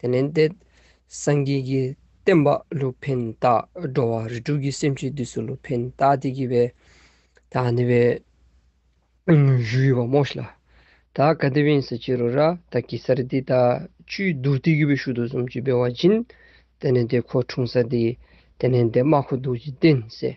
དེ་ནས་འདས། སངས་རྒྱས་ཀྱི་བསྟན་པ་ལུགས་ཕན་བཏགས། འགྲོ་བ་རིགས་དྲུག་གི་སེམས་ཅན་དུས་སུ་ལུགས་ཕན་བཏགས་ཏེ་བགྱིས་པས། ད་ནི་བའི་གཞུ་ཡོད་པ་རྨོ་ཞིག་ལ། ད་ག་དེ་བིན་སི་ཅི་རུ་ར་ད་གི་སར་དེ་ད་ཆུའི་རྡུལ་དེ་བགྱི་བའི་ཤུལ་དུ་གཟུམ་གྱིས་སྦས་བ་སྦྱིན། དེ་ནས་དེ་ཁོ་འཁྲུངས་ས་དེ། དེ་ནས་འདས་མ་ཁོ་འདུག་ཅིང་བསྟན་ཟེར།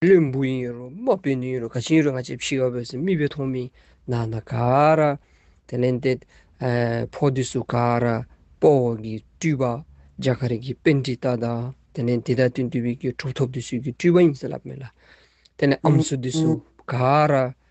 བློན་པོ་ཡིན་རུང་དམག་དཔོན་ཡིན་རུང་ག་ཅི་ཡིན་རུང་ང་ཅེ་ཕྱི་ཡོད་པས་སུ་རྨིས་པའི་ཐོག་མིན་ན་ན་ག་ར། དེ་ལན་ཏེ། ཕོ་དེ་སུ་ག་ར་སྤོ་བོ་གིས་སྤྲུལ་པ། རྒྱ་གར་གྱི་དཔེ་འདི་ལྟ་དང་དེ་ལན་དེ་དག་དུས་འདུལ་བའི་གྲུབ་ཐོབ་དེ་སུས་ཀྱིས་སྤྲུལ་པ་ཡིན་ཟེར་ལབ་མེད་ལ། དེ་ལན་ཨམ་སུ་དེ་སུ་ག་ར་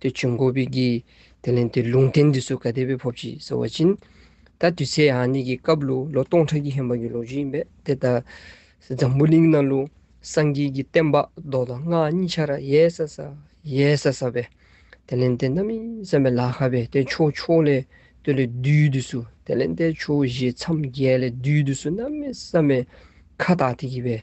དེ་བྱུང་གོ་བི་གིས་དེ་ལན་དེ་ལུང་བསྟན་འདི་སུ་ག་དེ་བས་ཕོབ་ཅིག་ཟེར་བ་བྱིན། ད་དུས་ཚེས་ཧ་ནི་གི་སྐབས་ལུ་ལོ་སྟོང་ཕྲག་གི་ཧན་བར་གྱི་ལོ་རྒྱུས་ཡིན་པས་དེ་ལྟ། འཛམ་བུ་གླིང་ན་ལུ་སངས་རྒྱས་ཀྱི་བསྟན་པ་ལྡོག་དང་སྔགས་གཉིས་ཆར་ཡལ་ས་ས་ཡལ་ས་ས་བས་དེ་ལན་དེ་རྣམ་སྨིན་བསམ་པའི་ལ་ཁ་བས་དེ་ཕྱོགས་ཕྱོགས་ལས་སྟོད་ལས་རྡུལ་དུ་སུ་དེ་ལན་དེ་ཕྱོགས་བཞི་མཚམས་བརྒྱད་ལས་རྡུལ་དུ་སུ་རྣམ་སྨིན་བསམ་པའི་ཁ་བཏགས་དེ་གི་བས་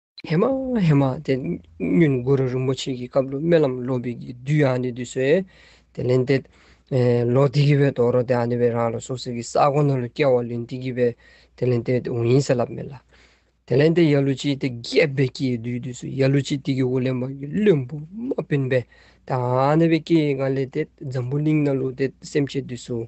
ཧེ་མ་ཧེ་མ་དེ་སྙུན་དགུ་རུ་རིན་པོ་ཆེ་གི་སྐབས་ལོ་སྨོན་ལམ་སློབ་པའི་དུས་ཡང་ནི་དུས་སུ། དེ་ལན་ཏེ། ལོ་དེ་གི་བའི་དོག་རོ་དེ་ཡང་ནི་བའི་རང་ལ་སོགས་ཟེར་གི་ས་གོ་ན་ལོ་སྐྱེ་བ་ལོན་དེ་གི་བའི་དེ་ལན་ཏེ་དེ་འོ་ཡིན་ས་ལབ་མེད་ལ། དེ་ལན་ཏེ་ཡ་ལུ་ཅི་དེ་རྒྱས་པའི་སྐྱེ་ཡི་དུས་དུས་སུ་ཡ་ལུ་ཅི་དེ་གི་འོ་ལེན་པ་གི་བློན་པོ་མ་བིན་པས་དེ་ཡང་ནི་བའི་སྐྱེ་ཡི་སྔ་ལས་ཏེ་འཛམ་བུ་གླིང་ན་ལུ་དེ་སེམས་བསྐྱེད་དུས་སུ།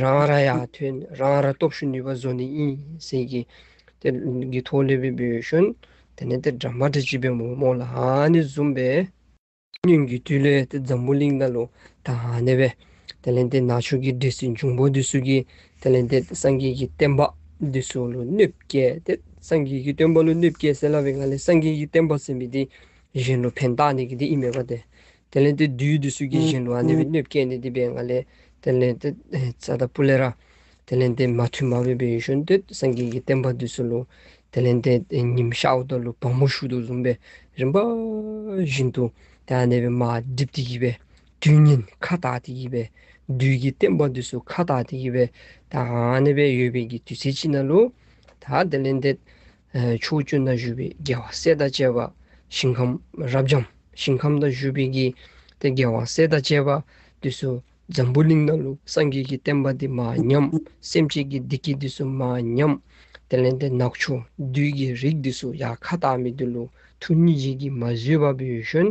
རང་ར་ཡག་ཐོན་རང་ར་སྟོབས་ཤུགས་ནུས་པ་བཟོ་ནི་ཡིན་ཟེར་གི། དེ་གི་ཐོག་ལེ་བི་བི་ཤོན་དེ་ནས་དེ་འདྲ་མ་དྲི་བྱིས་པའི་མོག་མོག་ལ་ཧ་ནི་བཟུམ་པས། སྙུན་གི་དུས་ལས་དེ་འཛམ་བུ་གླིང་ན་ལོ་ད་ཧ་ནི་བས། དེ་ལན་དེ་ནག་ཆུ་གི་འདྲེ་སྲི་འབྱུང་པོ་འདི་སུ་གི་དེ་ལན་དེ་སངས་རྒྱས་ཀྱི་བསྟན་པ་འདི་སུ་ལོ་གནོད་བསྐྱལ་དེ་སངས་རྒྱས་ཀྱི་སྟོན་པ་ལོ་གནོད་བསྐྱལ་ཟེར་ལ་བས་ང་ལས་སངས་རྒྱས་ཀྱི་བསྟན་པ་ཟེར་མི་དེ་གཞན་ལོ་ཕན་བཏགས་ནི་གི་དེ་ཨི་མེད་པ་དེ་དེ་ལས་དེ་དུས་དུ་སུ་གྱིས་བཞིན་དུ་ཨནྡེ་བི་སྣོད་བཀས་ནས་དེ་པའི་ང་ལས་དེ་ལས་དེ་ཙཱ་ད་པུ་ལེ་ར། དེ་ལས་དེ་མ་ཐུལ་མ་བོས་པའི་ཡུལ་ཤོན་དུད་སངས་རྒྱས་ཀྱི་བསྟན་པ་དུས་སུ་ལུ། དེ་ལས་དེ་ཉིམ་ཤ་འུ་ཏོ་ལུ་བག་མོ་ཤུག་ཏུ་བཟུང་པའི་རིམ་པ་བཞིན་དུ་དེ་ཨནྡེ་བི་མ་བསྒྲིབས་དེ་ཡིད་པའི་དུས་ཉིན་ཁ་དག་དེ་ཡིད་པའི་དུས་ཀྱི་བསྟན་པ་དུས་སུ་ཁ་དག་དེ་ཡིད་པའི་དག་ཨནྡེ་བི་ཡོད་པའི་གྱི་དུས་ཚེ་ཅི་ན་ལུ། ད་དེ་ལས་དེ་ཕྱོགས་བཅུ་ན་བཞུགས་པའི་རྒྱལ་བ་སྲས་དང་བཅས་པ། ཞིང་ཁམས་རབ་འབྱམས་ཞིང་ཁམས་ན་བཞུགས་པའི་དགེ་སྟེ་རྒྱལ་བ་སྲས་དང་བཅས་པ། དུས་སུ་འཛམ་བུ་གླིང་ན་ལུགས་སངས་རྒྱས་ཀྱི་བསྟན་པ་འདི་མ་ཉམས། སེམས་ཅན་གྱི་བདེ་སྐྱིད་དུས་སུ་མ་ཉམས། དེ་ལས་འདས་ནག་ཆུ་རྡུལ་གྱི་རིགས་དུས་སུ་ཡང་ཁ་བཏགས་མི་བསྡུ་ལུགས་ཐུགས་ཉིད་བཞེས་ཀྱིས་མ་བཟོད་པ་བུ་ཡུལ་གཞོན།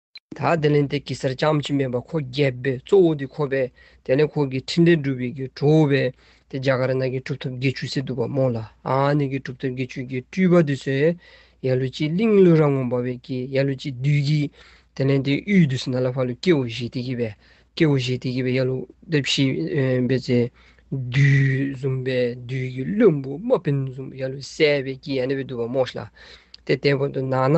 ད་དེ་ལན་དེ་གེ་སར་ལྕམ་གཅིག་མེད་པར་ཁོ་རྒྱལ་པོའི་གཙོ་བོ་དེ་ཁོ་བས་དེ་ནས་ཁོ་གིས་འཕྲིན་ལས་སྒྲུབ་པའི་གི་གྲོ་བོ་བས་དེ་རྒྱ་གར་ནག་གི་གྲུབ་ཐོབ་དགེ་ཆོས་སེ་འདུག་པར་རྨོངས་ལ་ཨཱ་ནི་གི་གྲུབ་ཐོབ་དགེ་ཆོས་ཀྱི་སྤྲུལ་པ་དུས་སུ་ཡ་ལུ་ཅིའི་གླིང་ལུས་རང་ངོ་འབར་བའི་གི་ཡ་ལུ་ཅིའི་བདུད་ཀྱིས་དེ་ལན་དེའི་དབུས་དུ་སི་ན་ལ་བྷ་ལུ་སྐྱེ་བོ་བཞི་དེ་གི་བས་སྐྱེ་བོ་བཞི་དེ་གི་བས་ཡ་ལུ་ཏི་བཞི་བས་ཚེ་བདུད་བཟུང་བས་བདུད་ཀྱི་བློན་པོ་དམག་བིན་བཟུང་བས་ཡ་ལུ་སེ་བས་ཀྱི་ཡ་ནི་བས་འདུག་པར་རྨོངས་ལ་དེ་དེ་བར་དུ་ནག་ན་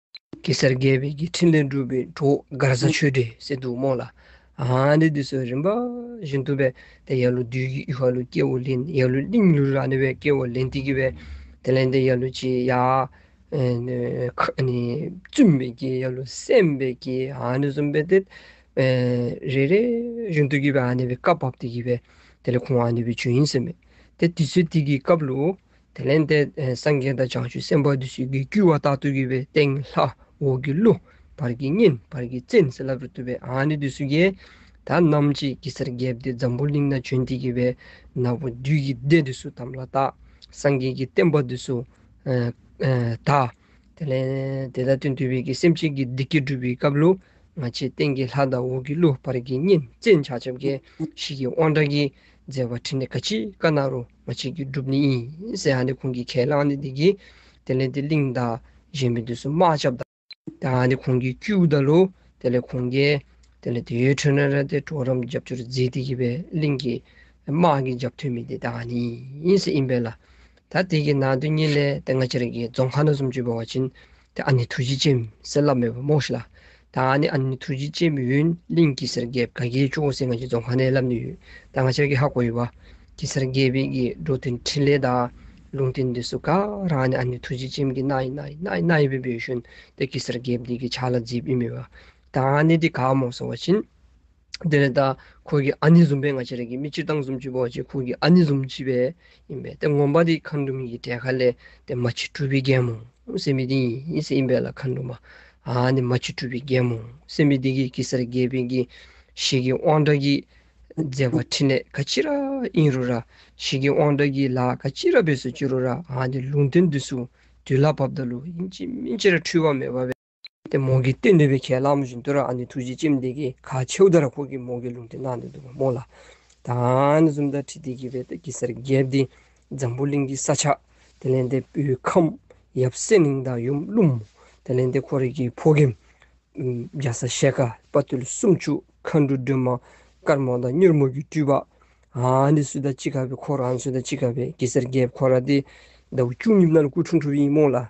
གེ་སར་རྒྱལ་བའི་རྒྱལ་ཕྲིན་ལས་འགྲུབ་པའི་གྲོགས་མགར་བཟའ་ཆོས་སྡེ་སེ་འདུག་རྨོག་ལ། ཨ་འདི་དུས་སུ་རིམ་པ་བཞིན་དུ་བས་ཏེ་ཡར་ལུ་དུས་ཀྱི་ཧ་ལུ་སྐྱེ་བོ་ལིན་ཡར་ལུ་ལིན་ལུ་ར་ནི་བས་སྐྱེ་བོ་ལིན་ཏི་གི་བས་ཏེ་ལན་ཏི་ཡར་ལུ་ཅི་ཡ། བཙུན་པའི་རྒྱལ་ཡར་ལུ་སེམས་དཔའི་རྒྱལ་ཨ་ནི་གསུམ་པའི་ཏེ། རེ་རེ་བཞིན་དུ་གི་བས་ཨ་ནི་བས་བཀའ་བབས་ཏི་གི་བས་ཏེ་ལས་ཁུང་ཨ་ནི་བས་ཇོ་དབྱིངས་སེམས་དཔའི་ཏེ་དུས་སུ་ཏི་གི་སྐབས་ལུ། དེ་ལན་ཏེ། སངས་རྒྱས་དང་བྱང་ཆུབ་སེམས་དཔའ་དུ་ཞིག་གིས་བསྐུལ་བ་ལྟར་ཐུགས་ཀྱི་བའི་སྟེང་ལྷ་འོག་གི་ཀླུ། བར་གྱི་གཉེན་བར་གྱི་བཙན་ཟེར་ལབ་རུ་བཏུ་བའི་ཨ་ནི་དུ་སུ་ཀའི་ད་རྣམ་ཅིག་གི་སར་བརྒྱབ་སྟེ་འཛམ་བུ་གླིང་ན་བྱོན་ཏེ་གི་བའི་ནག་པོ་བདུད་ཀྱི་སྡེ་དུ་སུ་དམ་ལ་བཏགས་སངས་རྒྱས་ཀྱི་བསྟན་པ་དུ་སུ་དག། དེ་ལན་ཏེ་ད་ལྟ་དུས་བབ་ཀྱི་སེམས་ཅན་གྱི་བདེ་སྐྱིད་སྒྲུབ་པའི་སྐབས་ལུ་ང་ཆེའི་སྟེང་གི་ལྷ་དང་འོག་གི་ཀླུ་བར་གྱི་གཉེན་བཙན་བྱ་བྱབ་ཀའི་ཞིག་གི་དབང་དྲག་གིས་མཛད་པ་ཁྲི་ནས་ག་ཅི་ཀ་ན་རུ། མ་བྱས་ཀྱི་སྒྲུབ་ནི་ཡིན་ཟེར་ཡང་ནི་ཁོང་གིས་ཁས་བླངས་ནི་འདི་གྱིས་དེ་ལས་འདི་གླིང་དང། གཞན་པའི་དུས་སུ་དམག་བཅབས་དང། དེ་ཡང་ནི་ཁོང་གིས་དཀྱུས་བདལ་ལོ། དེ་ལས་ཁོང་རྒྱལ། དེ་ལས་དེའི་ཁྲོད་ན་རལ་ཏེ་གྲོག་རམ་རྒྱབ་ཆུར་རྫིས་ཏེ་གྱེས་པས་གླིང་གི། དམག་གིས་རྒྱབ་ཐོན་མི་དེ་དེ་ཡང་ནི་ཡིན་ཟེར་ཨིན་པས་ལ། ད་དེ་གྱིས་ན་དོན་གཉིས་ལས་དེ་སྔ་ཆེར་རྒྱལ་རྫོང་ཁ་ན་སུམ་ཅུའི་བ་བ་བྱིན། དེ་ཨ་ནི་ཐུགས་རྗེ་ཅན་གསལ་བླ་མེད་པ་རྨོངས་ཤིག་ལ། ད་ང་ནི་ཨ་ནི་ཐུགས་རྗེ་ཅན་མི་ཡུན་གླིང་གི་སེར་སྐྱའི་བཀའ་རྒྱའི་ཆུ་བོ་སེང་ངེ་ཀྱི་རྫོང་ཁ་ནས་བསླབས་ནས་ཡོད། ད་ང་ཤར་གྱི་ཧ་གོ་ཡི་བ། ཀྱི་སེར་སྐྱའི་བན་གྱི་འགྲོ་དོན་འཕྲིན་ལས་དག། ལུང་བསྟན་འདི་སུ་ག་རང་ཨ་ནི་ཨ་ནི་ཐུགས་རྗེ་ཅན་གྱི་སྣ་ཡི་སྣ་ཡི་སྣ་ཡི་སྣ་ཡི་བུ་བེ་ཞོན་ཏེ་ཀྱི་སེར་སྐྱའི་བདུད་ཀྱི་ཆ་ལ་རྫིས་པའི་མི་བ། ད་ང་ནི་འདི་ག་རྨོངས་སོང་བ་བྱིན། དེ་ནས་ད་ཁོ་གི་ཨ་ནི་ཟུམ་པའི་ང་ཆེ་རེད་གི་མི་སྤྱིར་བཏང་ཟུམ་སྤྱི་བོ་ཅེས་ཁོ་གི་ཨ་ནི་ཟུམ་སྤྱི་བས་ཡིན་པས་དེ་ངོམ་པ་དེ་ཁ་འདུ་མི་གི་གྲལ་ཁ་ལས་དེ་མ་ཕྱི་སྤྲུལ་པའི་རྒྱལ་མོ་སེམས་པའི་དེ་ཡིན་སེམས་པས་ལ་ཁ་འདུ་མ་ཨ་ནི་མ་ཕྱི་སྤྲུལ་པའི་རྒྱལ་མོ་སེམས་པའི་དེ་གི་གི་སར་རྒྱལ་པའི་གི་ཞིག་གི་དབང་དྲག་གིས་མཛད་པ་ཕྲིན་ལས་ག་ཅི་ར་ཨིན་རུ་ར་ཞིག་གི་དབང་དྲག་གིས་ལ་ག་ཅི་ར་བས་སུ་ཅི་རུ་ར་ཨ་ནི་ལུང་བསྟན་དུས་སུ་དུས་ལ་བབ་ད་ལུ་ཡིན་གྱི་མི་སྤྱིར་འཁྲུལ་བ་མེད་པ་བས། དེ་མོ་གི་སྟེ་འདོད་པའི་ཁས་བླངས་མོ་ཞིག་འདོད་ར་ཨ་ནི་ཐུགས་རྗེ་ཅི་མི་དད་ཀྱིས་ག་ཕྱེའུ་ད་ར་ཁོག་གིས་མོ་གི་ལུང་དེ་གནང་འདོད་འདུག་མོ་ལ། ད་ཨ་ནི་གསུམ་ད་ཁྲི་དེ་གི་བས་ད་གི་སར་བརྒལ་ཏེ་འཛམ་བུ་གླིང་གི་ས་ཆ་དེ་ལན་ཏེ་པོའི་ཁམས་ཡབ་གསེར་གླིང་དང་ཡུམ་ཀླུང་མོ་དེ་ལན་ཏེ་ཁོ་རེ་གི་ཕོ་གེམ། རྒྱ་ས་ཤེལ་ཁ་དཔའ་རྟུལ་གསུམ་བཅུ་མཁའ་འགྲོ་སྒྲོལ་མ་དཀར་མོ་དང་མྱུར་མོ་གི་སྤྲུལ་པ། ཨ་ནི་སུ་ད་ཅི་ག་བས་ཁོ་ར་ཨ་ནི་སུ་ད་ཅི་ག་བས་གི་སར་བརྒལ་ཕོ་ར་ཏེ་ད་བུ་བཅུ་གཉིས་མནལ་སྐུ་ཁྲུང་ཁྲུབ་ཡིན་མོ་ལ།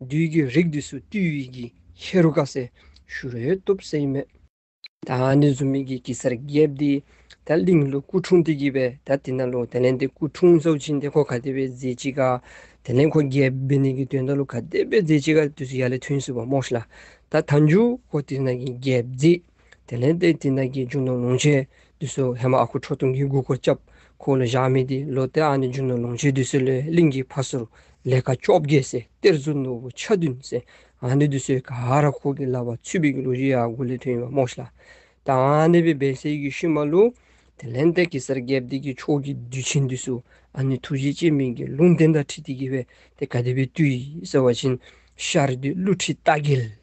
བདུད་ཀྱི་རིགས་འདུས་སུ་བཏུལ་བའི་གྱི་ཧེ་རུ་ཀ་སའི་ཤུ་རོའི་སྟོབས་སེ་ཡི་མེས། ད་ནི་ཟུར་མིག་གི་གེ་སར་རྒྱལ་དེ་ད་གླིང་ལོ་སྐུ་འཁྲུངས་དེ་གྱིས་པའི་ད་དེ་ན་ལོ་དེ་ལན་དེ་སྐུ་འཁྲུངས་སོགས་ཕྱིན་ཏེ་ཁོ་ག་དེ་པའི་རྫས་གཅིག་ག་དེ་ལན་ཁོ་རྒྱལ་བས་ནི་གི་དོན་ད་ལོ་ག་དེ་པའི་རྫས་གཅིག་ག་དུས་སུ་ཡ་ལེ་ཐུན་སུ་བ་མོ་ཤི་ལ་ད་ད་འཇུག་ཁོ་དེ་ན་གི་རྒྱལ་རྫས། དེ་ལན་ཏེ་དེ་རྣམས་ཀྱིས་འཇུག་ན་ལོངས་སྤྱད་དུས་སུ་ཧེ་མ་ཨ་ཁུ་ཁྲོ་ཐུང་གིས་མགུལ་སྐོར་བཅབས་ཁོ་ལ་བཞག་མི་དེ་ལོ་ཏི་ཨ་ནི་འཇུག་ན་ལོངས་སྤྱད་དུས་སུ་ལས་གླིང་གི་ཕ་སོར་ལས་ཀ་བཅོ་བརྒྱད་བསད་གཏེར་མཛོད་ནོར་བུ་ཆ་བདུན་བསད་ཨ་ནི་དུས་སུ་ག་ཧ་ར་ཁོ་གི་ལ་བ་ཚུད་པའི་ལུགས་བཞི་ཡ་གུ་ལི་ཐོན་ཡོད་པ་རྨོག་ཤི་ལ་དང་ཨ་ནི་པའི་བལ་སེལ་གྱི་ཤུལ་མ་ལུ། དེ་ལན་ཏེ་གེ་སར་རྒྱལ་བསྟན་གྱི་ཕྱོགས་ཀྱི་དུས་ཆེན་དུས་སུ་ཨ་ནི་ཐུགས་རྗེ་སྐྱེ་མེད་ཀྱི་ལུང་བསྟན་དང་ཁྲིད་དེ་གི་བས་ཏེ་ག་དེ་བའི་དུས་ཡིན་ཟེར་བ་བཞིན་ཤར་དུས་ཀླུ་ཁྲི་རྟ་རྒྱལ།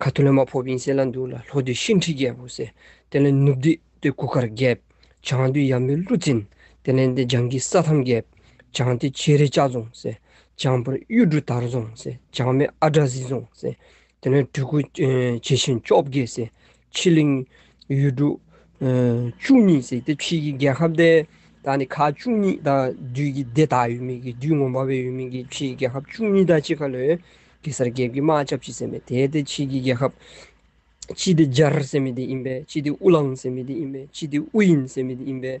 ཁ་ཐུ་ལ་མ་ཕོ་བིན་སེ་ལ་འདུག་ལ་ལྷོ་དུས་ཤིང་ཁྲི་རྒྱལ་པོ་སེ་དེ་ལ་ནུབ་དུས་དེ་གུ་གར་རྒྱལ། བྱང་དུས་ཡམ་བུའི་ཀླུ་བཙན་དེ་ལན་དེ་འཇང་གི་ས་ཐམ་རྒྱལ། བྱང་དུས་ཁྱེད་རི་ལྕགས་རྫོང་སེ་བྱང་བུར་གཡུ་འབྲུག་དར་རྫོང་སེ་བྱང་མེ་ཨ་བྲ་ཟི་རྫོང་སེ་དེ་ལན་སྤྲུལ་སྐུ་བྱེ་ཆེན་བཅོ་བརྒྱད་སེ་ཕྱི་གླིང། ཡུལ་གྲུ། བཅུ་གཉིས་ཟེར་ཏེ་ཕྱིའི་རྒྱལ་ཁབ་སྡེ་དག་ནི་ཁག་བཅུ་གཉིས་དང་བདུད་ཀྱི་སྡེ་དག་ཡོད་མིན་གྱི་བདུད་ངོམ་པ་བས་ཡོད་མིན་གྱི་ཕྱིའི་རྒྱལ་ཁབ་བཅུ་གཉིས་དང་གཅིག་ཁ་ལོས་གེ་སར་རྒྱལ་གྱི་མ་ཅབ་ཅི་སེ་མེ་དེ་སྟེ་ཕྱིའི་རྒྱལ་ཁབ། ཅི་སྟེ་ཇར་སེ་མེ་དེ་ཡིན་པས་ཅི་སྟེ་ཨུ་ལང་སེ་མེ་དེ་ཡིན་པས་ཅི་སྟེ་ཨུ་ཡིན་སེ་མེ་དེ་ཡིན་པས་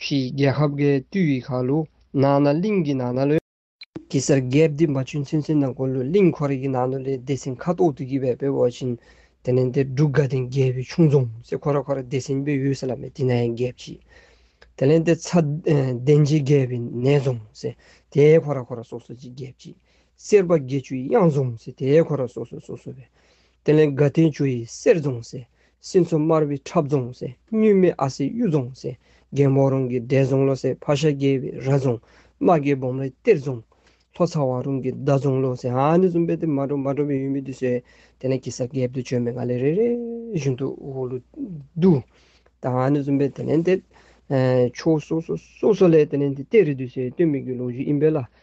ཕྱིའི་རྒྱལ་ཁབ་འགའི་བཏུས་ཡི་ཁ་ལུ་ནག་ན་གླིང་གི་ནག་ན་ལོད། གེ་སར་རྒྱལ་བདེ་འབའ་ཆུ་མཚོན་སེར་ནག་གོ་ལུ་གླིང་ཁོར་ཡིག་ནག་ནོ་ལའི་སྡེ་སྲིན་ཁ་དོག་ཏུ་བགྱིས་པའི་བེ་བོ་བྱིན། དེ་ནས་འདིར་འབྲུག་དགའ་ལྡན་རྒྱལ་པོའི་ཆུང་རྫོང་སེ་ཁོ་ར་ཁོ་ར་སྡེ་སྲིན་བེ་ཡུལ་ས་ལ་མེ་ཏི་ན་ཡན་རྒྱལ་བྱིན། དེ་ལས་འདིར་ཚ་གདན་རྗེ་རྒྱལ་བི་ནས་རྫོང་སེ་དེའི་ཁོ་ར་ཁོ་ར་སོ་སོ་བྱིན་རྒྱལ་བྱིན། སེར་བ་དགེ་ཆུ་གཡང་རྫོང་སེ་དེའི་ཁོ་ར་སོ་སོ་སོ་སོ་བེ། དེ་ནས་དགའ་ལྡན་ཆུ་ཡི་གསེར་རྫོང་སེ། སྲིན་མཚོ་དམར་བའི་འཁྲབ་རྫོང་སེ། སྙུན་མེད་ཨ་སེའི་གཡུ་རྫོང་སེ། རྒན་བོ་རོང་གི་འདས་རྫོང་ལོ་སེ། ཕ་ཤ་རྒྱས་པའི་ར་རྫོང། རྨ་རྒྱལ་སྦོམ་རའི་གཏེར་རྫོང། ལྷོ་ཚ་བ་རོང་གི་མདའ་རྫོང་ལོ་སེ། ཨ་ནི་ཟུམ་པའི་དེ་མ་འགྲོ་མ་འགྲོ་བའི་ཡུལ་མི་འདུས་སེ། དེ་ནས་གི་ས་རྒྱལ་བདུད་བྱོན་པའི་ང་ལས་རེ་རེ་བཞིན་དུ་འོ་ལུ་འདུ། དང་ཨ་ནི་ཟུམ་པའི་དེ་ནས་འདས། ཕྱོགས་སོ་སོ་སོ་སོ་ལས་དེ་ནས་འདས་རེ་འདུས་སེ་སྟོན་མི་དགོས་ལུང་བཞི་ཨིན་པའི་ལ།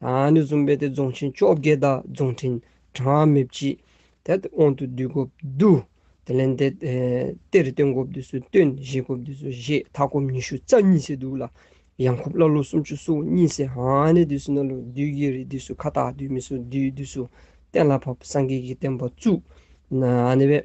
ཨ་ནུ་ཟུམ་པའི་དེ་རྫོང་ཆེན་བཅོ་བརྒྱད་དང་རྫོང་ཕྲན་གྲངས་མེད་བགྱིས། དེ་ལྟ་དབང་དུ་བསྡུས་གོ་བསྡུ། དེ་ལན་དེ་ལྟེ་རུ་སྟོན་གོ་བསྡུས་སུ་སྟོན་བཞེས་གོ་བསྡུས་སུ་བཞེས་མཐའ་སྐོམ་ཉི་ཤུ་རྩ་གཉིས་སེ་བསྡུས་ལ། ཡང་ཁུབ་ཀླ་ཀློ་སུམ་ཅུ་སོ་གཉིས་སེ་ཨ་ནུ་བསྡུས་སུ་ནོར་ལུག་བསྡུས་རྒྱལ་རིགས་བསྡུས་སུ་ཁ་བཏགས་བསྡུས་མི་སོ་བསྡུས་བསྡུས་སུ་གཏན་ལ་ཕབ་སངས་རྒྱས་ཀྱི་བསྟན་པ་བཙུགས། ཨ་ནུ་བས།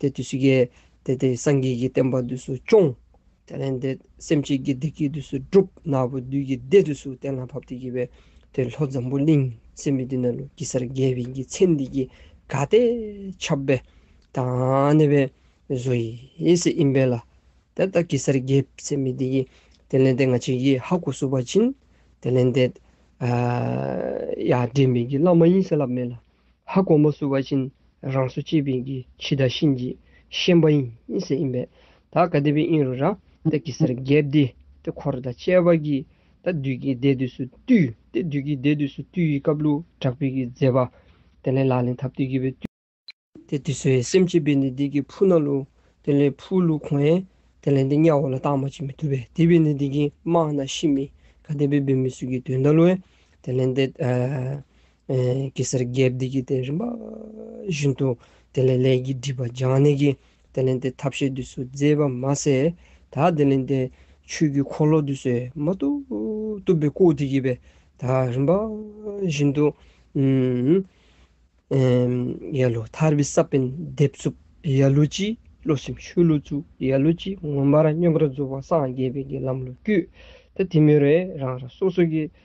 དེ་དུས་སུ་སྐྱེ། དེ་དེ་སངས་རྒྱས་ཀྱི་བསྟན་པ་དུས་སུ་སྐྱོང། དེ་ལས་འདས་སེམས་ཅན་གྱི་བདེ་སྐྱིད་དུས་སུ་སྒྲུབ། ནག་པོའི་བདུད་ཀྱི་སྡེ་དུས་སུ་གཏན་ལ་ཕབ་སྟེ་སྐྱེ་བའི། དེ་ལྷོ་འཛམ་བུ་གླིང་སེམས་དཔའི་སྡེ་ན་ལུགས་ཀྱི་སར་རྒྱལ་བས་ཀྱི་ཚེ་འདི་ཀྱི་དགའ་སྟེ་ཁྱབ། བས་དང་གནས་པའི་བཟོ་ཡི་ཡེ་སྲིད་ཨིན་བས་ལ། དེ་ལྟར་ཀྱི་སར་རྒྱལ་བས་ཚེ་མི་འདི་ཀྱི། དེ་ལས་འདས་ང་ཅན་གྱི་ཧ་གོ་སུ་བ་བྱིན། དེ་ལས་འདས། ཡ་བྲེས་མེད་ཀྱི་བླ་མ་ཡིན་སེ་ལབ་མེད་ལ། ཧ་གོང་མ་སུ་བ་ཅིན་རང་བཟོ་ཅེས་པིན་གྱི་ཕྱི་དང་ཤིན་གྱི་ཤན་པ་ཡིན་ས་ཡིན་པས་ད་ག་དེ་པིན་ཨིན་རུ་རང་ཏག་གི་སར་རྒྱལ་བདེ་ཏེ་འཁོར་དང་བཅས་པ་གྱིས་ད་དུས་ཀྱི་སྡེ་དུས་སུ་བཏུས་ཏེ་དུས་ཀྱི་སྡེ་དུས་སུ་བཏུས་ཡི་སྐབས་ལུགས་དྲག་པིན་གྱི་མཛད་པ་དེ་ལས་ལག་ལེན་ཐབས་དུས་ཀྱི་བས་ཏེ་དུས་སུ་སེམས་ཅེས་པིན་ནི་དེ་ཀྱི་ཕུ་ན་ལུ་དེ་ལས་ཕུ་ལུ་གོང་ཡན་དེ་ལས་འདི་གཉའ་བོ་ལ་རྟགས་མ་བྱིན་མི་ཐུབ་པས་དེ་པིན་ནི་དེ་ཀྱི་དམག་ན་ཤི་མི་ག་དེ་པིན་པིན་མི་སུ་ཀྱི་དུས་ད་ལུ་ཡན་དེ་ལས་འདི། གེ་སར་རྒྱལ་བདེ་ཀྱིས་དེ་རིམ་པ་བཞིན་དུ་དེ་ལས་ལས་ཀྱི་སྒྲིབ་པ་སྦྱང་ནས་ཀྱི་དེ་ལས་དེ་ཐབས་ཤེས་དུས་སུ་མཛེས་པ་མ་ཟད་ད་དེ་ལས་དེ་ཆོས་ཀྱི་འཁོར་ལོ་དུས་སུ་མ་གཏུགས་གཏུབ་པའི་སྐུ་དེ་ཀྱིས་པས་ད་རིམ་པ་བཞིན་དུ། ཡེ་ལོ་ཐར་པའི་ས་པཎ་བདེ་བཙུགས་ཡེ་ལོ་ཅི་བློ་སེམས་ཆོས་བློ་བཙུགས་ཡེ་ལོ་ཅི་ངོ་མར་སྙོམས་པར་རྫོགས་པ་སངས་རྒྱས་པའི་ལམ་ལོ་རྒྱུད་དེ་དེ་མེ་རེ་རང་རང་སོ་སོ་ཀྱི་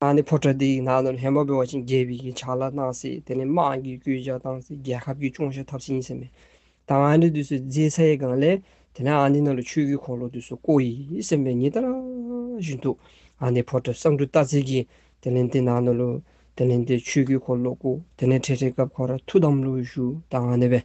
ཁང་དེ་ཕོ་བྲང་དེ་ཡི་ནང་དུ་ལྷན་པ་པོའི་བ་ཅན་རྒྱལ་བའི་ཕྱག་ལ་གནང་སྲིད་དེ་ནས་དམངས་ཀྱིས་བསྐོས་བཞག་བཏང་སྲིད་རྒྱལ་ཁབ་ཀྱི་ཅུང་ཞིག་ཐབས་ཆེན་ཡིན་ཟེར་མེད་དང་ཨ་འདི་དུས་སུ་རྫས་ཚའི་སྒང་ལས་དེ་ནས་ཨ་འདི་ནང་ལ་ཆོས་ཀྱི་འཁོར་ལོ་དུས་སུ་བསྐོ་ཡི་ཟེར་མེད་ཉིད་ལྟར་བཞིན་དུ་ཨ་འདི་ཕོ་བྲང་བསང་བཀྲུ་བཏགས་ཚིག་གིས་དེ་ནས་དེ་ནང་དུ་ལུས་དེ་ནས་དེ་ཆོས་ཀྱི་འཁོར་ལོ་བསྐོ་དེ་ནས་ཁྲེས་ཁྲེས་སྐབས་ཁོ་ར་ཐུགས་དམ་ལུགས་ཞུ་དང་ཨ་འདི་བས།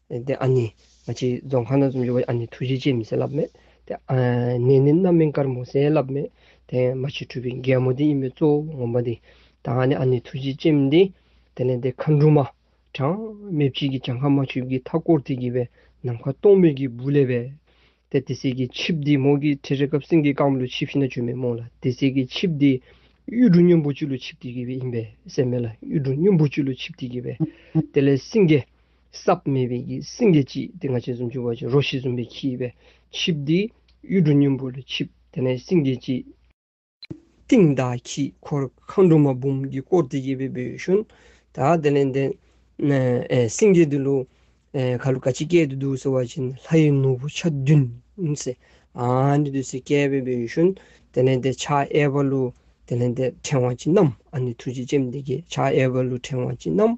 དེ་ཨ་ནི་ང་ཅིག་རྫོང་ཁ་ན་ཙུམ་ཡོད་པ་ཨ་ནི་ཐུགས་རྗེ་ཆེ་མི་ཟེར་ལབ་མེད། དེ་ཨ་ནི་ནི་རྣམ་སྨིན་དཀར་མོ་ཟེར་ལབ་མེད། དེ་ཨ་མ་ཆོས་འཁྲུལ་པའི་རྒན་མོ་དེ་ཡིན་པའི་གཙོ་བོ་ངོམ་པ་འདི། ད་ཨ་ནི་ཨ་ནི་ཐུགས་རྗེ་ཆེ་མི་འདི། དེ་ནས་དེ་ཁ་འབྲུ་མ། གྲངས་མེད་གཅིག་གིས་བྱང་ཁ་མ་ཆུབ་ཀྱི་མཐའ་བསྐོར་དེ་བགྱིས་པས་ནམ་མཁའ་སྟོང་མེད་ཀྱི་སྦུ་ལེ་བས། དེ་དེ་སྲིད་ཀྱི་ཆིབས་དེའི་མོག་གི་ཁྲི་རེ་སྐབས་སེང་གེའི་རྐང་བུ་ལུས་ཆིབས་ཤི་ན་བཅོས་མའི་མོག་ལ་དེ་སྲིད་ཀྱི་ཆིབས་དེའི་གཡུ་འབྲུག་སྨྱོ་འབུག་ཆུ་ལུས་ཆིབས་དེ་བགྱིས་པས་ཡིན་པས་སྲེད་མེད་ལ་གཡུ་འབྲུག་སྨྱོ་འབུག་ཆུ་ལུས་ཆིབས་དེ་བགྱིས་པས། དེ་ལས་སེང་གེ། སྲབ་མེད་པའི་ཀྱི་སྲིན་གྱི་ལྕི་དེ་ང་ཆེན་གསུམ་བཅུ་བ་ཅིག་རོ་བཞི་འཛུམ་པའི་ཁྱིའི་བས་ཆིབས་ཏེ། གཡུ་འབྲུག་སྙིང་པོ་ལ་ཆིབས་དེ་ནས་སྲིན་གྱི་ལྕི། སྟེང་དག་གིས་འཁོར་གང་འབྲུ་མ་འབུམ་གྱིས་བསྐོར་ཏེ་གཡས་པའི་བུ་ཞོན་དག་དེ་ལས་འདས། སྲིན་གྱི་དུ་ལུ། ག་ལུ་ག་ཅི་སྐད་དུ་འདུག་ཟེར་བ་བཞིན་ལྷ་ཡི་ནོར་བུ་ཆ་བདུན། ཨཱ་ནི་ཟེར་གཡས་པའི་བུ་ཞོན་དེ་ལས་འདས་ཕྱག་གཡས་པ་ལུ་དེ་ལས་འདས་ཕྲེང་བ་ཅི་རྣམས་ཨཱ་ནི་ཐུགས་རྗེ་ཅན་དེ་ཀྱི་ཕྱག་གཡས་པ་ལུ་ཕྲེང་བ་ཅི་རྣམས།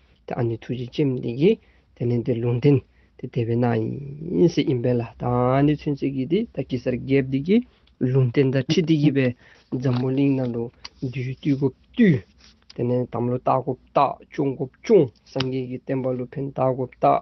དེ་ཨ་ནི་ཐུགས་རྗེ་ཅན་དེ་ཀྱིས་དེ་ནི་དེ་ལུང་བསྟན་ཏེ་དེ་བས་ན་ཡིན་སྲིད་ཡིན་པས་ལ་དྭགས་ཨ་ནི་ཚུན་ཆད་ཀྱི་དེ་ད་ཀི་སར་རྒྱལ་བདེ་ཀྱིས་ལུང་བསྟན་ད་ཁྲི་དེ་ཀྱི་བས་འཛམ་བུ་གླིང་ན་ལུང་བསྡུས་བསྡུས་སྒོ་བསྡུས། དེ་ནི་དམ་ལོ་བརྟག་སྒོ་བརྟག་སྤྱོང་སྒོ་སྤྱོང་སངས་རྒྱས་ཀྱི་བསྟན་པ་ལུ་ཕན་བརྟག་སྒོ་བརྟག།